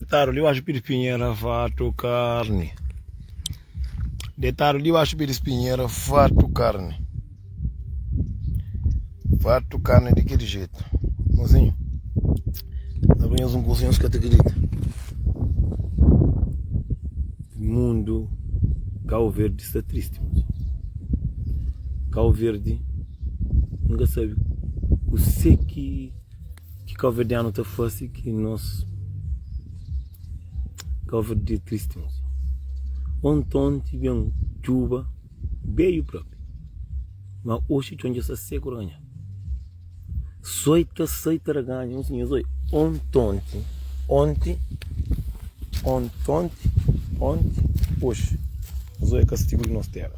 Detadu dibaxu pi dispinhera fatu karni Detadu dibaxu pi dispinhera fatu karni Fatu karni di kel jetu Mozinhu Na pa nhos un kuzinhu nhos ka ta kridita Mundu Kau Verdi sta tristi mozinhu Kau Verdi N ka sabe kuse ki Ki kaverdianu ta fase ki nos kaverdia tristi nos ya? Ontonti ben djuba beiu propi ma oxi txon dja sa seku raganhadu soi ta sai ta raganha un sinhas oi ontonti onti ontonti onti oxi nzoi kastigu di nos tera.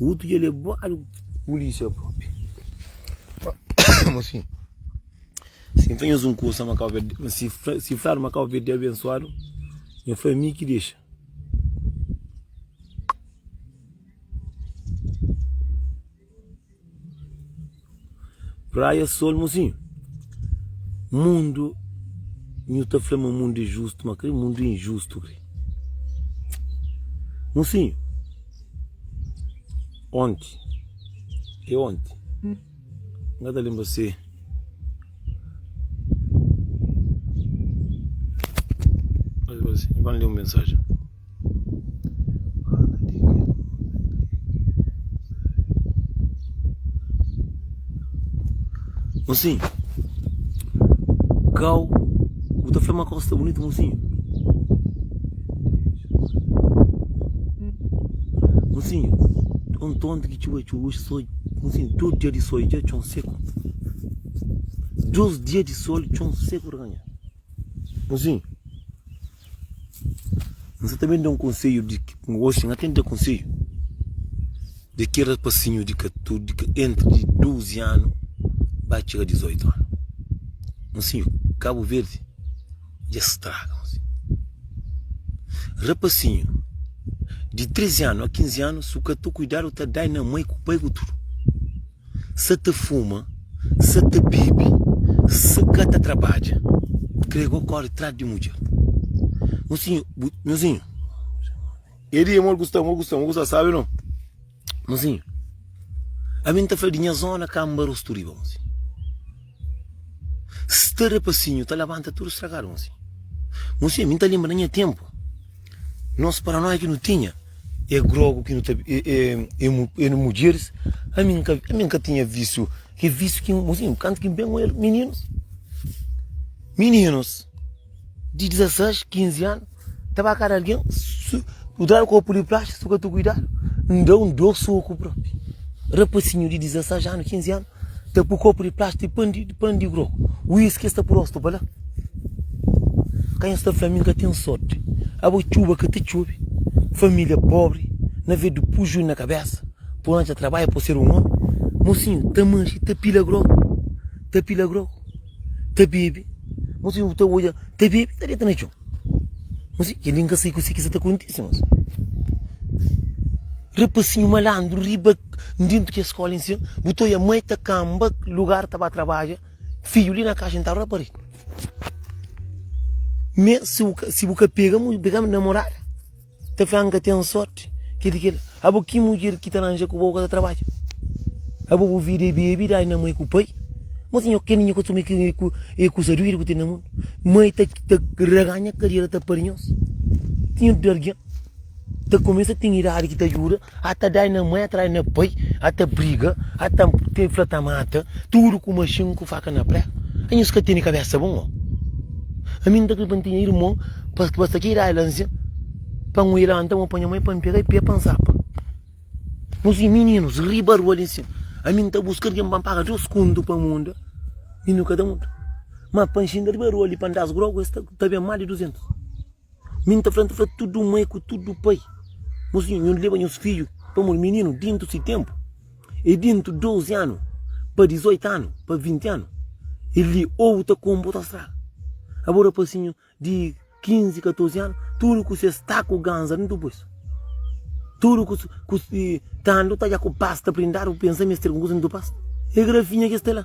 Utu dja lebadu pulisia propi. Mosin, si N fla nhos un kusa ma kau verdadi, ma si N fladu ma kau verdadi abensuadu, nhos fla mi ki dexa. Praia sol mosinhu Mundu Nhu ta fla ma mundu é justu ma kre mundu é injustu kre Mosinhu Onti É onti Nga ta lenbra se Nhu ba-m lé un mensajen. Mosinhu kau bu ta fla ma kau sta bunitu mosinhu mosinhu txon tontu ki txuba txuba oxi só mosinhu dus dia di sol dja txon seku dus dia di sol txon seku ta ka nha. Nhozinho, N sa ta ben da-u un konsedju di ki, oxi N ka ta ben da-u konsedju di ki rapasinhu di entri duzi anu ba txiga dizoitu anu. Nhozinho, Kabu Verdi dja straga nhozinho. Rapasinhu di trezi anu a kinzi anu, si bu ka ten kuidadu ta da-i na mai ku bai ku tudu. sa ta fuma, sa ta bibi, sa ka ta trabadja. Krê go kóre tras di mudjer. Mozinhu, bu, mozinhu. E di, amor, gusta-m, bo gusta-m, bo gusta-m, sabe no? Mozinhu, ami N ta fla di nha zóna ka N ba rostu riba, mozinhu. Sta rapasinhu ta labanta tudu stragadu nsi. Nsi mi ta lenbra na nha tenpu nos paranoia ki nu tinha e grogu ki nu ta e e mudjeris ami nka ami nka tinha visiu ki visiu ki nsi kantu ki nben ku elis mininus mininus di 16, 15 anu Ta ba kada algen, kudadu kopu li plaxi, suka tu kuidadu. N da un dor soku propi. Rapasinhu di 16 anu, 15 anu, ta pu kopu di plaxi di pan di pan di grogu, whisky sta pu rostu pa la. Kanha sta fla mi n ka ten sorti. Abo txuba ka ta txobi, familia pobri, na ve du puju na kabesa, po anja trabaiu po ser un omi. Mosinhu ta manxi, ta pila grogu, ta pila grogu, ta bebi. Mosinhu ta odja, ta bebi, ta deta na txon. Mas e li nka sai ku si ki sa ta kontisi mas. Rapasinhu malandru riba ndintu ki eskola in sin bu ta oia mai ta kanba lugar ta ba trabaja fidju li na kaxa nta rapari. Me si bu ka pega mu pega namorada. Ta fla nka ten sorti ke di kel abo ki mudjer ki ta ranja ku bo ka ta trabadja abo bu vida e bebe dai na mai ku pai mas nho ken nho kostumi ki e kusa duidu ku ten na mundu mai ta raga nha karera ta pari nhos ti nho di algen ta kumesa ten idadi ki ta djuda. ata dai na mai atrai na pai ata briga ata te fla ta mata tudu ku maxin ku faka na prega anhas ka tene kabesa bon oh ami nta kre pa ntinha irmon pa pa sta ki idai la nzin pa nhu ilanta nhu pa nha mai pa npega i pia pa nzapa nhu si mininus riba rua li nsin ami nta buska algin pa npaga dus kontu pa munda i nhu ka ta munda ma pa nxinga riba rua li pa ndas grogu es ta ta ben mali duzentus Mi nta fla, nta fla tudu mai ku tudu pai, nhos vinha, nhos leba nhos fidju pamodi mininu dintu si tenpu e dintu 12 anu pa 18 anu pa 20 anu el li ou bu ta komu bo ta straga. Abo rapasinhu di 15, 14 anu tudu ku ses taku ganza dintu pes, tudu ku ku si tando ta dja ku pasta prindadu bu pensa mi es ter algun kuza dintu pasta? E grafinha ki es ta la.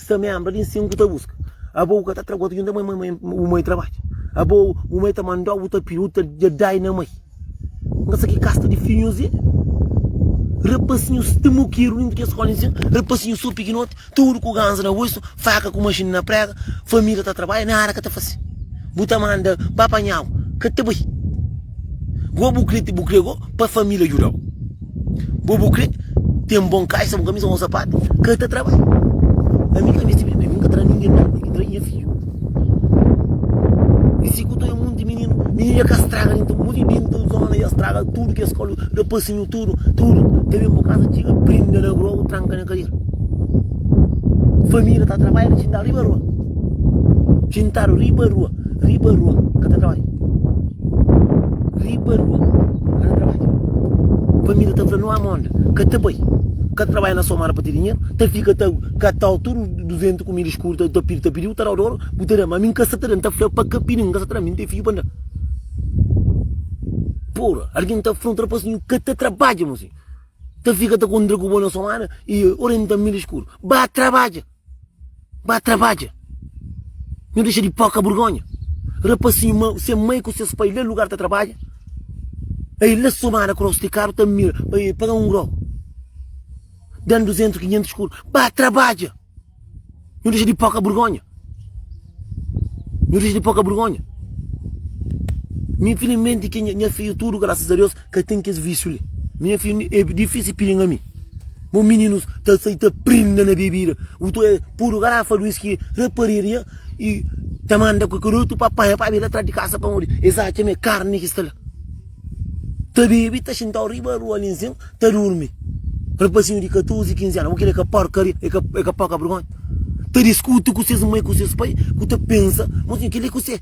Sta membra di nsin ku ta buska Abo u ka ta tragua ta junta mai mai u mai trabadja Abo u mai ta mandau u ta pidi u ta dja dai na mai N ka sa ki kasta di finhus e Rapasinhus sta mukiru dintu kes skola nsin Rapasinhus so pikinoti tudu ku ganza na boisu Faka ku maxini na prega família ta trabadja nada ka ta fase Bu ta manda pa panhau ka ta bai Gobu kre ti bu kre go pa família djudau. Bo bu kre ten bon kaxa na bu kamisa ô sapatu? Ka ta traba. Ami ka meste primeru, mi ka tra ningen primeru, mi ki tra nha fidju. I si ku to e monti mininu, mininu ya ka straga nen, ta muri dentu di zona ya straga tudu kes skola, da pasinhu tudu, tudu. Ta ben bo kaza txiga prinda na rua ô tranka na kadiera. Família ta trabalha na txintadu riba rua, txintadu riba rua. riba rua ka ta trabadja riba rua ka ta trabadja família ta fla no ama onda ka ta bai ka ta trabadja na somada pa ti dinheiro ta fika ta katal tudo 200 comida escuro ta pidi ta pidi bu ta dau dor bu ta da ma mi ka sa ta da mi ta fla pa ka pidi mi ka sa ta da mi mi tem filho pa da porra alguém ta fla um trapaz nho ka ta trabadja moço ta fika ta contra ku bo na somada e orienta milha escuro ba trabadja Ba trabadja. Nhu dexa di poka burgonha. Rapasinhu mau, se mai ku ses pai la lugar ta trabadja. Ai la somada ku rosi di karu ta mira pa e paga un grau. Dan duzentus, kinhentus kur. Ba trabadja. Nhu dexa di poka burgonha. Nhu dexa di poka burgonha. Mi filimenti ki nha fiu tudu, grasas a Deus. ka ten kes vísiu li. Minha filha, é difísil pilinga mi. Bo mininus ta sai ta prinda na bebida. Utu é podu garafa di uísque raparia i ta manda ku kel otu pa panha pa bebe la tras di kasa pamodi es atxa ma é karni ki sta la. Ta bebe, ta xintau riba rua li nsin, ta durmi. Rapazinhu di 14, 15 anu. Bo kre ka porkaria, é ka poka bergonha? Ta diskuti ku ses mai, ku ses pai ku ta pensa ma kel li ku se.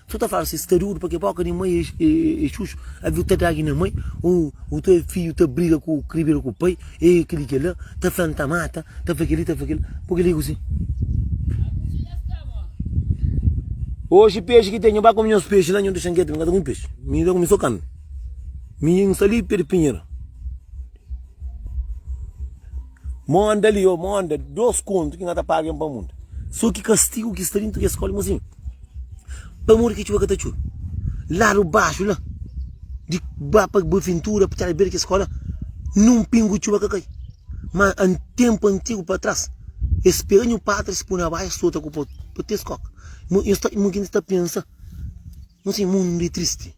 Tu ta fala si, Stariu pa ke boka di mai e xuxu, aviu ta dagi na mai, o o to e fiu ta briga ku kribira ku pai, e kili kila, ta fla nta mata, ta fla kili ta fla kila, bo ke ligu si. Oxi pexi ki tenho, ba kome nhos pexi la, nho dexa nketu, mi ka ta kome pexi, mi ta kome so kami, mi yin sta li pé di pinhera, monda li, o monda dos kontu ki nha ta pagen pa monda, so ki kastigu ki sta dintu kes skola, mo si. Pamodi ki txuba ka ta txube? Ladu baxu la, di ba pa Buaventura, pa txada di bera kes skola, nin un pingu di txuba ka kai. Ma an tenpu antigu pa tras, es pega nhu patris, pui na bai, es sota ku po, pa ti es koka. Nhos ta, nhos ta pensa, nhos ta pensa, nhu sen mundu é tristi.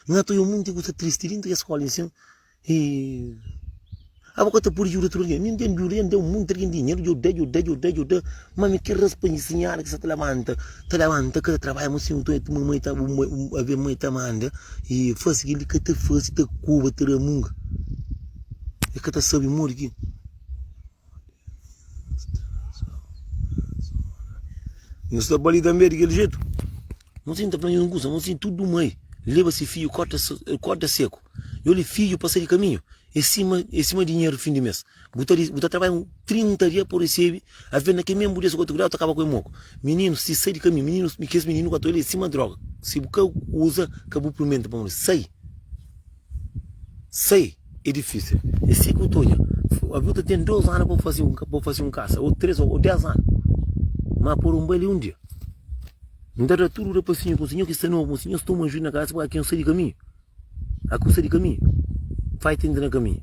Nha ta oi un monti ku ta tristi dentri es skola insin e abo ka ta podi djuda tudu algen. Mi N ten djuda, N da un monti algen dinheru, dja da, dja da, dja da, dja da, ma mi ke raspa nha sinhora ki sa ta labanta, ta labanta ka ta trabadja ma si nton e tuma mai ta aven mai ta manda e fasi kel li ka ta fasi ta koba ta ramunga e ka ta sabi modi ki. Nhos sta ba li tanbe di kel jetu? Nhos sin ta fla nhos un kusa? Nhos sin tudu mai leba se fidju korta korda seku nhos li fidju pasa di kaminhu e sima e sima dinheru di fin di mes bu ta bu ta trabadja 30 dia pa bu resebi a fia na kel mésmu dia si bu ka ta kuidadu ta kaba ku e moku mininu si sai di kaminhu mininu kes mininu ku atual li e sima droga si bu ka uza ka bu purmenta pamodi sai Sai é difísil. É si ki bu ta odja. Alvês bu ta ten dôs anu pa bu faze un kasa, ô três ô dés anu. Má pode un bai li un dia. N ta da tudu da pa sinhor, fala, sinhor ki sta novu, sinhor sta un ajuda na kasa pa ka sai di kaminhu. A ka sai di kaminhu, fai tenti na kaminhu.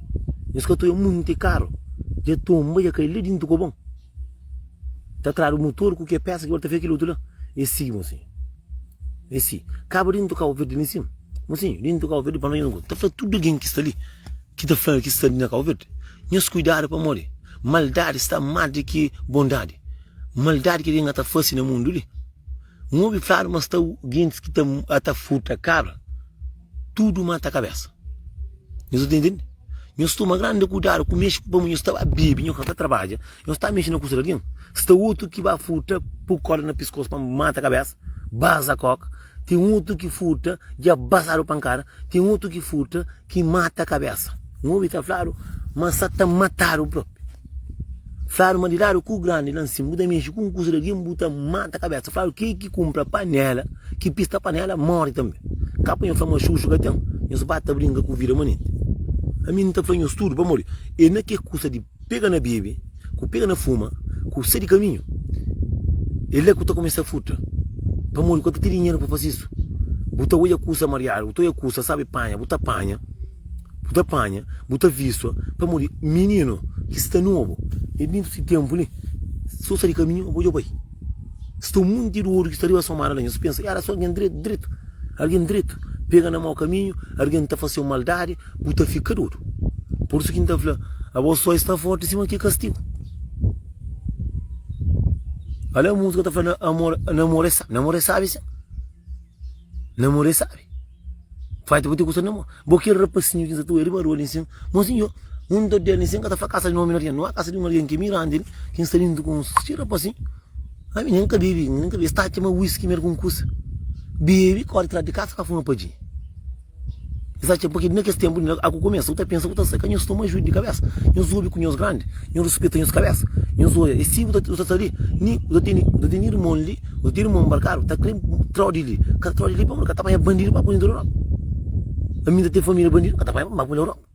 Nhos ka ta odja monti karu, dja tonba, dja kai la déntu ku bon. Ta tradu mutor ku ke pesa ki ora ta fika kil otu la. E si, mosinhu. E si. Kaba di N toka Kauverdi li nsima. Mosinhu, di N toka Kauverdi pa no inda ta fla tudu algen ki sta li, ki ta fla ki sta li na Kauverdi, nhos kuidadu pamodi maldadi sta más di ki bondadi. Maldadi ki algen ka ta fase na mundu li. N obi fladu ma sta gentis ki ta ata furta kabra, tudu mata kabesa. Nhos sta ta intende? Nhos toma grandi kudadu ku mexe ku pamodi nhos ta ba bebe, nhos ka ta tarbaja, nhos sta mexe na kusa di algin. Sta utru ki ba furta, pui korda na piskosu pa mata kabesa, baza koka. Ten utru ki furta, dja bazadu pankada. Ten utru ki furta. ki mata kabésa. N obi ta fladu ma N sta ta matadu própi. Fladu ma di ladu ku grandi la nsin bu ta mexi ku un kusa di algen bu ta mata kabésa. Fladu ke ki kunpra panéla ki pista panéla móre tanbe. Ka pa nhos fla ma xuxu ka ten, nhos ba ta brinka ku vida manenti. Ami N ta fla nhos tudu pamodi e na ke kusa di. pega na bebe, ku pega na fuma, ku sai di kaminhu, é la ku ta kumesa futa. Pamodi bu ka ta ten dinheru pa faze isu. Bu ta odja kusa mariadu, bu ta odja kusa sabe panha, bu ta panha, bu ta panha, bu ta vistua. Pamodi mininu ki sta nobu, é dentu si ténpu li, si bu sai di kaminhu, bu odja bai. Sta un monti di odu ki sta riba so mara la nha. Si bu pensa, éra so algen dretu, dretu. Algen dretu pega na mau kaminhu, algen ta fase-u maldadi. Bu ta fika dodu. Pur isu ki N ta fla, Abo só e sta fórti sima ki kastigu. Alé músika ta fla, Namora é sábi. Namora é sábi sin. Namora é sábi. Fai ti bu ti kusa namora. Bo kel rapasinhu ki N sa ta oja riba rua li nsin, Mon sinhor, un ta dia li nsin, N ka ta fla kasa di un ómi na riba. Nau é kasa di un algen ki é mirandi li, ki N sta lintu ku un si rapasinhu. Ami N ka bebe. N ka bebe. Es ta atxa ma uíski merka un kusa. Bebe, kóre trás di kasa, ka fuma padjinha. Es atxa ma na kes ténpu li aku kumesa, ku ta pensa, ku ta sai. Ka nhos toma ajuda di kabésa. Nhos obi ku nhos grandi, nhos rispita nhos kabésa. Nhos oja, es ti ku ta sta li. Ni ku ta tene, ku ta tene irmon li, ku ta tene irmon nbarkadu, ta krê tra-u di li. Ka tra-u di li pamodi ka ta panha bandidu pa bu inda Europa. Ami inda ten família bandidu, ka ta panha-m ba bu na Europa.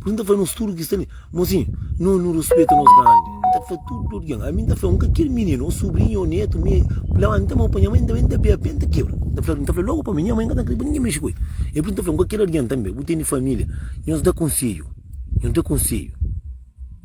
Pui nta fla nos tudu ki sta li mozinhu nos nu rispita nos grandi nta fla tudu algin ami nta fla un ka kiri mininu o subrinhu o netu mi fla ami nta mau pa nha mai ami nta bebe nta kebra nta fla nta fla logu pa mi nha mai nka ta kre pa ningu mexi ku el e pui nta fla un ka kiri algin tanbe bu tene familia nhos da konselhu nhos da konselhu.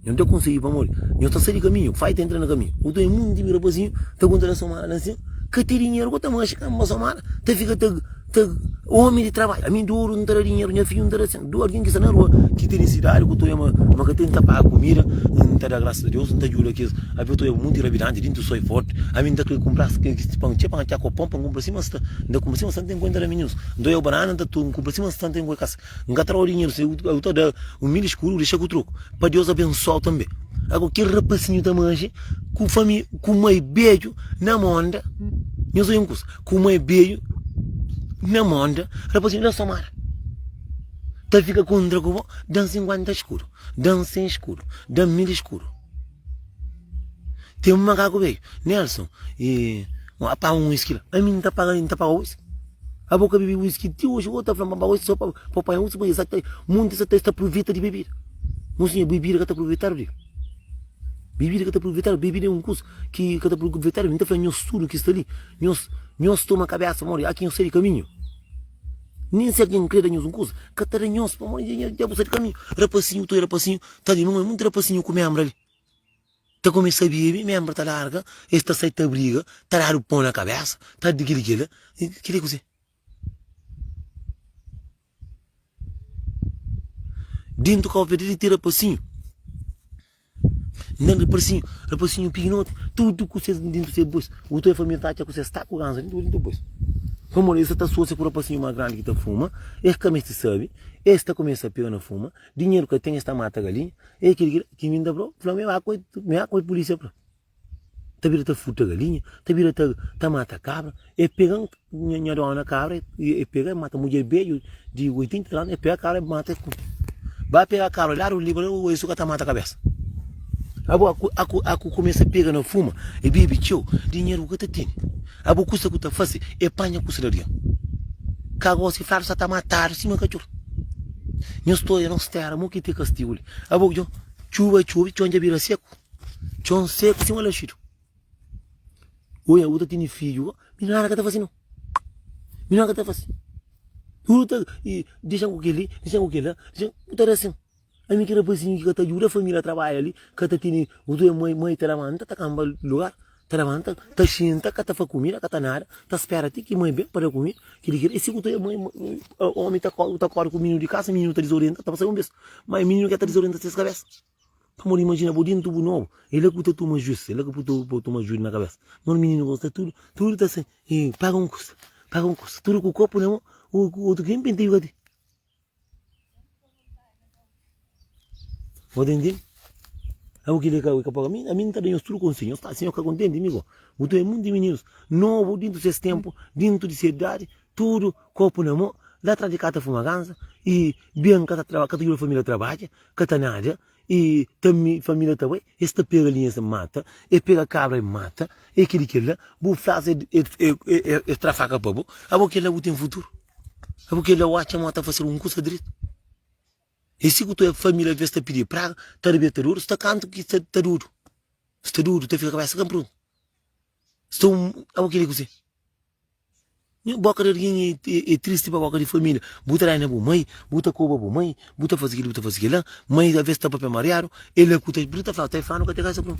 Nhos nta konsigi pamodi nhos ta sai di kaminhu, ku fai ta entra na kaminhu. Ku toma e munti mi rapazinhu ta konta da somada na sin, ka ten dinheru ku ta manxa ka ma somada ta fika ta ta omi di trabadju. Ami doru nta da dinheru nha fidju nta da sen doru algin ki sta na rua ki ta nisidadi ku ta oia ma ka ten nta paga kumida nta da grasas a Deus nta djuda kes abe ta oia munti rabidanti dintu soi forti ami nta kre kumpra kes pan txeu pan txeu ku pon pa nkumpra sima sta nta kumpra sima sta nta nkuentra na minhus nta oia banana nta nkumpra sima sta nta nkuentra kas N ka tra-u dinheru se eu ta da un mil eskuru dexa ku troku pa Deus abensoa-u tanbe. Ago kel rapasinhu ta manxe ku fami ku mai bedju na monda. Nhos oi un kusa, ku mai bedju na monda rapasinhu da somada ta fika kontra ku bo dan sinkuenta eskuru, dan sen eskuru, dan mil eskuru. Tem um macaco velho, Nelson, e a paga um whisky lá. A mim não tá pagando, não tá pagando whisky. A boca bebi whisky até hoje, outra flama para whisky só para apanhar whisky, mas exato, muita essa testa aproveita de bebida. Mas sim, bebida que tá aproveitado de. Bebida que tá aproveitado, bebida é um curso que que tá aproveitado, não tá falando nós tudo que está ali, nós nós toma cabeça, mori, aqui eu sei de caminho. Nem se alguém crê nós um curso, que tá nós, mori, já você de caminho. Rapacinho, tu rapacinho, Tadju, nu mô-i munti rapasinhu ku ménbra li. Ta kumesa bebe, ménbra ta larga, es ta sai ta briga, ta dadu pô na kabésa, ta dadu gilgila. Kel-li é kuzê? Déntu kau pé debe ten rapasinhu. N da-m rapasinhu, rapasinhu pikinoti, tudu ku ses déntu ta é bos. Bu ta oi família ta atxa kuzê? Staku ganza li tudu é bos. Pamodi es sa ta asosia ku rapasinhu más grandi ki ta fuma, es ka meste sabe, es ta kumesa pega na fuma, Dinheru ka ten es ta mata galinha ei kil ki mi nta bro fla me ba koi me ba koi polisia pra ta bira ta furta galinha ta bira ta ta mata kabra e pegan nha nha dona kabra e pega e mata mudjer beju di 80 anos e pega kabra e mata e kume ba pega kabra la di un libra o e su ka ta mata kabesa abo aku aku aku kumesa pega na fuma e bebe tcheu dinheru ku ka ta tene Abo kusa ku ta fase e panha ku slarion ka gosi fladu sa ta matadu sima katxor Nhu storia nos tera mo ki te kastigu li Abo djon txuba txobi txon dja bira seku txon seku sima laxidu Oi abo ta tini fidju Mi nana ka ta fase no Mi nana ka ta fase Oi ta dexan ku keli dexan ku kela dexan ku ta resin. Ami ki rapazinhu ki ka ta djuda família trabadja li, ka ta tene kutu e mai, mai ta labanta, ta kanba lugar, ta labanta, ta xinta, ka ta faze kumida, ka ta nada, ta spera ti ki mai ben pa da kumida, kili ki la. E si kutu e mai, omi ta korda, ta korda ku mininu di kasa, mininu ta dizorienta, ta pasa un bes, mai mininu ke ta dizorienta ses kabesa. Pamodi imajina bo dentu bu nobu, e la ku ta tuma jus, e la ku ta tuma jus na kabesa, nós mininu gosta tudu, tudu ta sen, e paga un kusa, paga un kusa, tudu ku kopu na mon, otu ki nen penteju ka ten. Pode entende? Abo ki leka ui kapoka, a mi nta da nhos tudo conselho, nhos tá, se nhos ka contente amigo, bu ta é muito di meninos novo dentro de ses tempo, dentro de ses idade, tudo copo na mão, lá atrás de cá ta fuma ganza, e bem cá ta trabalha, cá ta ajuda a família a trabalha, cá ta nada, E ta mi, família ta bai, es ta pega linha, es ta mata, e pega kabra, e mata, e kili kila, bu flas, e, e, e, e, e tra faka pa bu, abo kila bu ten futuru, abo kila oca mo ta fase algun kusa dretu, e si ku tua família ta ve sta pidi praga, ta riba e ta dudu, sta kantu ki sta ta dudu, sta dudu, ta fika kabesa ka pruntu, sta un, abo kila ki bu sen. Nha boka di algen e tristi pa boka di família Bu ta da-i na bu mai Bu ta koba bu mai Bu ta faze kel-li bu ta faze kel-la Mai ta avês ta papia mariadu El é ku ta Bu ta fla-u ta-i fla-nu ka ta kase ku-nu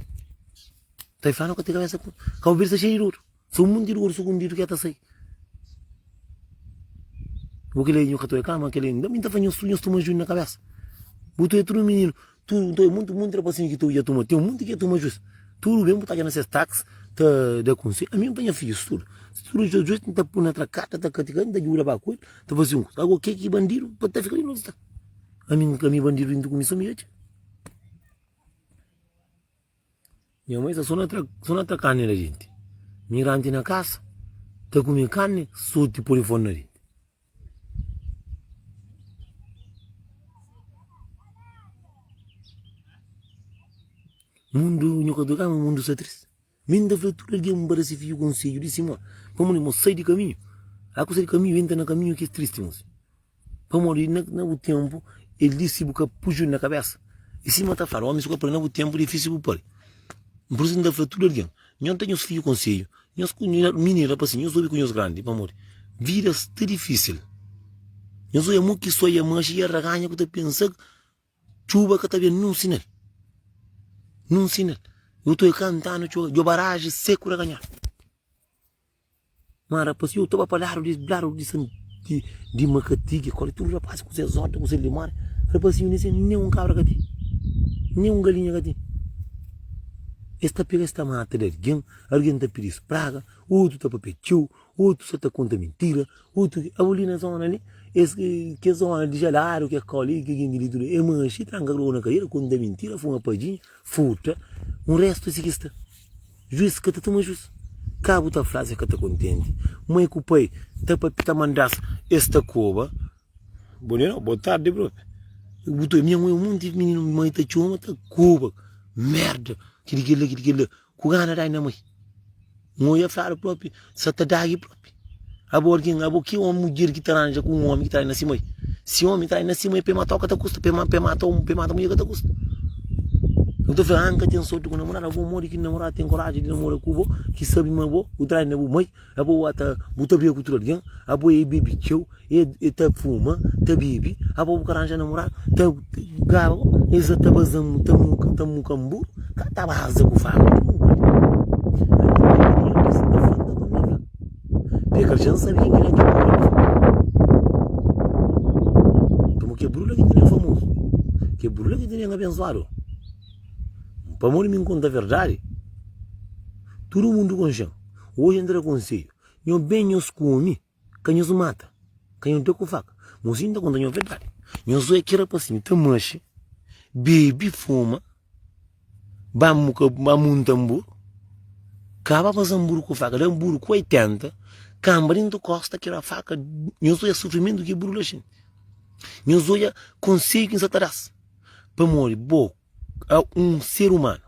Ta-i fla-nu ka ta kase ku-nu Kau bira ta xei di dodu Sô un monti di dodu sugundidu ki el ta sai Bu ki la inda ka ta oi kama Kel-li inda Mi ta fla nhos tudu nhos toma juiu na kabésa Bu ta oi tudu mininu Tudu nta oi monti monti rapasinhu ki ta odja turma. Ten monti ki é turma justi. Tudu ben bu ta atxa na ses tax ta da konselhu. Ami N panha fidju studa. Si tudu dja justi N ta pui na trakata, N ta katika el, N ta djuda pa akolhi, N ta fase un kuza. Ago ke ki bandidu pa ta fika li noti sta. Ami N ka mi bandidu inda ku mi sa mi atxa. Nha mai sa so na tra carne la gente. Migrante na casa, ta come carne, sorte pode fora na gente. Mundo, nho ka ta kama mundo sa triste. Min ta fla tudo alguém para se fio conselho, disse mo, como mo sai de caminho, a coisa de caminho entra na caminho que é triste, moço. Pamodi na bu ténpu el disi bu ka puxu-l na kabésa. I sima el ta fla-l, Ómis ku apren na bu ténpu é difísil bu pâpia. N precisa di N ta fla tudu algen. Nhos da nhos fidju konsedju. Nhos ku mininu da pasensa, nhos obi ku nhos grandi. Pamodi vida sta difísil. Nhos odja mon ki soi, amaxa i arraganha ku ta pensa txuba ka ta ben. Nun sinal. Nun sinal. Iotu é kantanu txuba. Djoba raji seku raganhadu. Má rapaszinhu, iu ta ba pa ladu di ladu di san di di Makatigi, kóli tudu rapaszi ku ses órta, ku ses limóri. Rapaszinhu, nes nen nen un kabra ka ten, nen un galinha ka ten. Es ta pega, es ta mata di algen, algen ta pidi-s praga, otu ta papia txeu, otu sa ta konta mintira, otu ke. Abu li na zóna li, es ki kes zóna di jaladu, ke kóli ki jinti li tudu e manxi, tranka krô na kadera, konta mintira, fuma padjinha, furta, un réstu si ki sta. Juis ka ta toma juis. Ka bu ta fla se ka ta kontenti. Mai ku pai ta papita mandas es ta koba. Bom dia nau, boa tarde profe. Bu ta nha mui un monti mininu mai ta txoma ta koba. Merda, ki di kel la, ki di kel la. Ku gana dai na mai. Nau ya fladu profe, sa ta dagi profe. Abo argin, abo ki omi, mudjer ki ta ranja ku un omi ki trai na si mai? Si omi trai na si mai, pa e mata-u ka ta kusta, pa e mata-u, pa e mata mudjer ka ta kusta. N ta fla, N ka ten sorti ku namoradu. Abo modi ki namoradu ten koraji di namora ku bo, ki sabe ma bo, bu trai na bu mai? Abo ua ta, bu ta briga ku utru argin? Abo e bebe txeu? E ta fuma, ta bebe, abo bu ka ranja namuradu, ta gaba, e sa ta baza mu, ta muka, ta muka mburu, ka ta baza ku fama di mu bai. P'e ka dja N sabia ki la ki brula ki fla. Pamodi ke brula ki tene N famozu, ke brula ki tene N abensuadu. Pamodi mi N konta verdadi, tudu mundu konxe-m. Oji N tra konsedju, nho ben, nho skumi. Ka nhos mata kanhote ku faka? Mosinhu N ta konta nhos verdadi, nhos oja ki rapasinhu ta maxe, bebe, fuma, ba munta nbur, kaba faze nbur ku faka, da nbur ku oitenta, kanba dentu di kosta, ki ra faka, nhos oja sufrimentu ki buru laxinti, nhos oja konseju ki N sa ta das, pamodi bo é un ser umanu,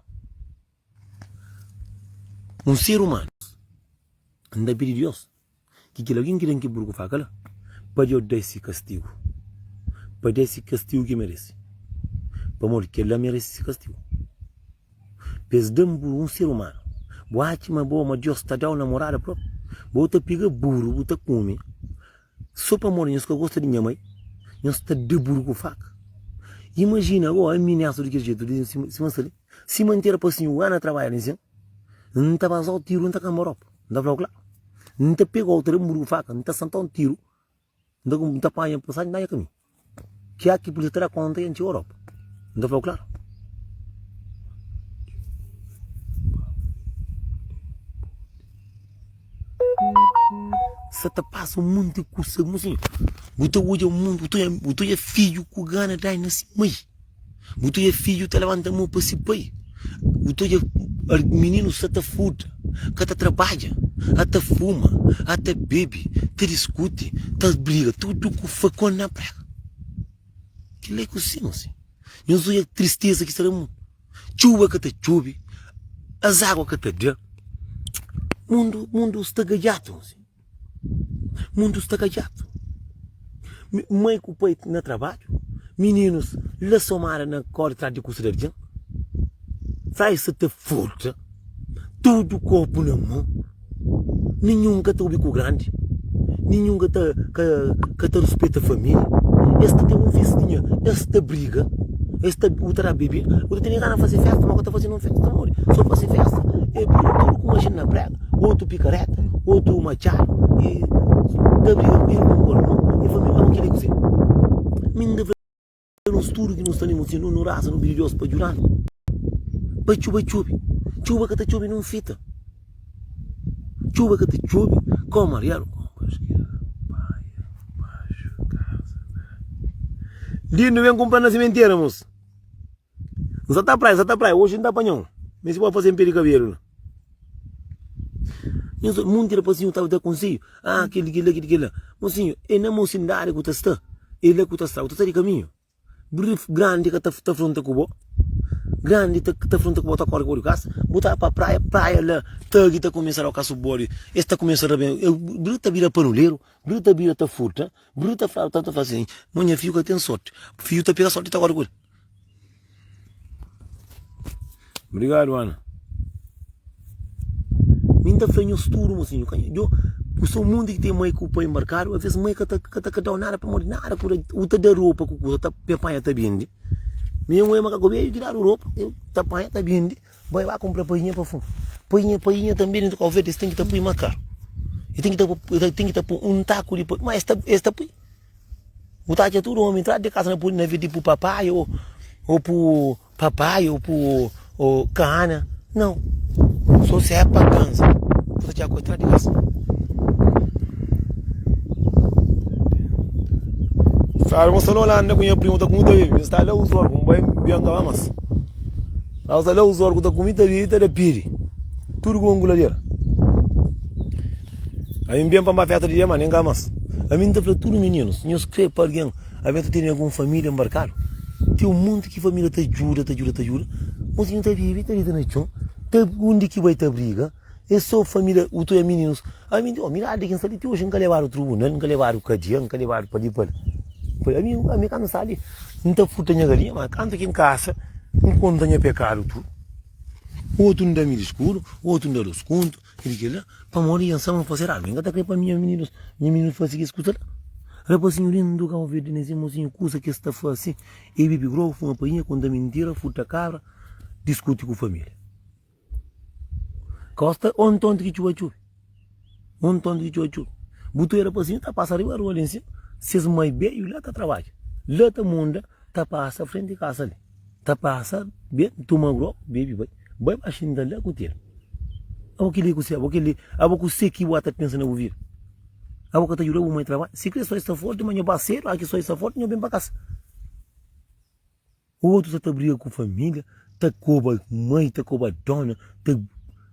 un ser umanu, N ta pidi Deus Ki kel algen ki ten ki burgu faka la, Pâdi odesi kastigu, pâdi si kastigu ki meresi, pamodi kel-la meresi si kastigu. Pa es da-m burgu, un ser umanu. Bu atxa ma bo, ma Deus ta da-u namorada propi? Bo ta pega burgu, bu ta kume. So pamodi nhos ka gosta di nha mai, nhos ta da burgu faka. Imajina gó, ami nesta di kel jetu, di sima, sima N sa li. Si mante era pa sinhu Ana trabadja na isen, N ta bazau tiru, N ta kanbau ropa, N ta flau kla, N ta pegau otu rembu di faka, N ta santau N tiru, N ta panha pasaji, N ta atxa kaminhu. Kia ki polisia ta da konta ya N txegau ropa, N ta flau kla. Sa ta pasa monti kusa, bu ta odja mundu, bu ta odja fidju ku Gana dai na si mai. Bu ta odja fidju ta labanta mô pa se pai, bu ta odja mininu sta ta furta, ka ta trabadja, a ta fuma, a ta bebe, ta diskuti, ta briga, tudu ku fakon na prega. Kila é ku si nu si. Nhos odja tristeza ki sta na mundu. Txuba ka ta txube, azágua ka ta da. Mundu, mundu sta gajatu. Mundu sta ka djatu. Mai ku pai na trabadju, mininus la somada na kóri trás di kusa di algen. Sai sa ta furta, tudu kopu na mô. Ninhun ka ta obi ku grandi, ninhun ka ta ruspeta família. Es ta ten un festinha, es ta briga, es ta un ta da bebida, otu ta ten gana di faze fésta, má ka ta faze ninhun fésta. Pamodi? Sô faze fésta é bira tudu ku majina na préga. Otu pikareta, otu matxadu i ta briga ku irmon ku irmon i família. Abo krê kuzê? Mi N ta fla nos tudu ki nos ta linbra si nu nu raza, nu pidi Deus pa djuda-nu pa txuba txobe. Txuba ka ta txobe nen un fita. Txuba ka ta txobe kau mariadu. Di undi ben kunpra na simentera, mos? N sa ta praia, sa ta praia, oji N ta panha un, mi si bo fase N perde kabelu la. Nhu sta, monti rapazinhu ta da konseju, ah, kel di kel la, kel di kel la. Mosinhu, e na mosinidadi ku ta sta, e la ku ta sta, ku ta sta di kaminhu. Grandi ka ta ta fronta ku bo, grandi ta ta fronta ku bo, ta kori ku bo di kas, bo ta pa praia, praia la tagi ta kumesa da kas bodi, es ta kumesa da ben, bri ta bira panuleru, bri ta bira ta furta, bri ta fla, ta ta fla sin, ma nha fiu ka ten sorti, fiu ta pega sorti ta kori ku el. Obrigado Ana. Mi nta fla nhos tudo mosinho. Ku so mundi ki ten mãe ku pai marcado, a vez mãe ka ta ka ta ka dau nada pamodi nada ku u ta da ropa ku kusa ta mi panha ta bindi. Mi un ema ka kobedu ki dadu ropa, eu ta panha ta bindi, bai ba kumpra painha pa fun. Painha painha tambi dentro Cabo Verde es ten ki ta pui ma karu. E ten ki ta pui un taku di painha, ma es ta es ta pui. Bu ta atxa tudu omi entradu di kasa na pudi na vidi pu papai o o pu papai o pu o kana. Nau. So se e pagans bu ta atxa ku entradu di kasa. Sabe, un sta na Olanda ku nha primu ta kume ta bibi. Un sta la uzu orgu, un bai bian kaba mas. Nau sta la uzu orgu ta kume ta bibi ta da pidi. Tudu ku un gulader. Ami N ben pa Maféta di Diamânia, N ka mas. Ami N ta fla tudu mininus, nhos krê pa algen alvês ta tene algun família nbarkadu? Ten un monti ki família ta djuda, ta djuda, ta djuda, mas nhos ta bebe, ta dita na txon, ta undi ki bai ta briga. É sô família, utu é mininus. Ami N di, Ó, mi idadi di ki N sta li ti oji N ka lebadu trubunal, N ka lebadu kadia, N ka lebadu pa li, pa la. Ami, ami kantu N sta li, N ta furta nha galinha, má kantu ki N kasa, N konta nha pekadu tudu. Otu N da mi diskursu, otu N da dôs kontu. Kel ki la pamodi N saba N fasedu algu. N ka ta krê pa minha minidus, minha minidus fase kes kusa la. Rapazinhu lindu du ka ovedu di nes irmonzinhu kusa ki es ta fase, e bebe grogu, fuma painha, konta mintira, furta kabra, diskuti ku familia. Ka gosta un tontu ki txuba txubi, un tontu ki txuba txubi. Bu ta oja rapazinhu ta pasa riba rua la en sima, ses mai beju la ta trabadja, la ta munda ta pasa frenti di kasa li. Ta pasa ben tuma grop bebe bai Bai baxinhu ta la ku tel Abo kel li ku se abo kel li Abo ku se ki bu a ta pensa na bu vida Abo ka ta juda bu mai trabadja Si kre soi sta forti ma nha bai sedu Aki soi sta forti nha ben pa kasa Otu sa ta briga ku família Ta koba mai ta koba dona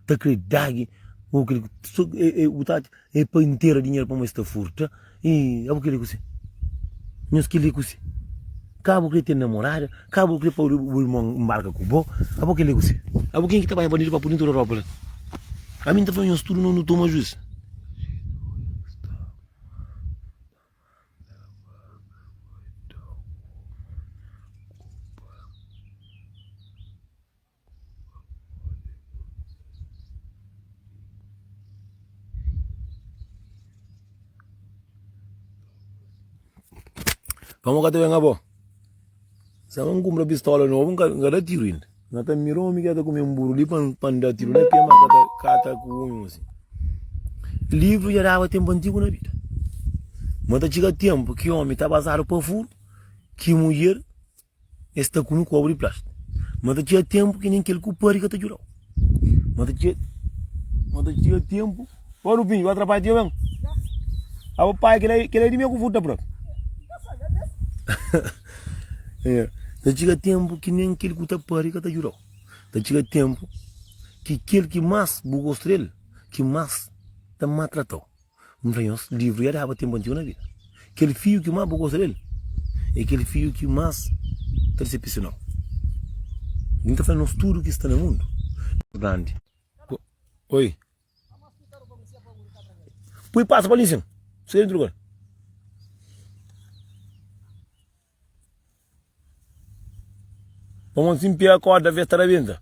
Ta kre dagi Abo kel li ku se abo kel li Bu ta atxa E pa intera dinheru pamo es ta furta e abo kre kusi nhos kre kusi ka abo kre ten namorada ka abo kre pa bo irmon mbarka ku bo abo kre kusi abo ken ki ta bai bandidu pa pudi ntu da ropa la ami nta fla nhos tudu nos nu toma juiz. Pamo ka ta ben abo. Sa un kumpra pistola novo, nka nka da tiro ainda. Nka ta mira omi ki ta kume un buru li pan pan da tiro na ke ma ka ta ka ta ku un si. Livro ya dava tempo antigo na bida. Ma ta chega tempo ki omi ta bazado pa furu, ki mulher E sta kume kobu di plastiku. Ma ta txiga tenpu ki nen kel ku padi ka ta djudau. Ma ta txiga, ma ta txiga tenpu. Ô Lupinho, bu atrapalha tio ben? A bu pai, kel-la, kel-la é di mi ku futa pura. Nha, ta txiga tenpu ki nen kel ku ta padi ka ta djudau. Ta txiga tenpu ki kel ki mas bu gosta del, ki mas ta matratau. N fla nhos, livru dja daba ténpu antigu na vida. Kel fiju ki más bu gosta di el é kel fiju ki más ta disepsiona-u. N ta fla nhos, tudu ki sta na mundu é grandi. Poi pasa pa li sin. Pamodi si N pega kórda ve ta rabenta.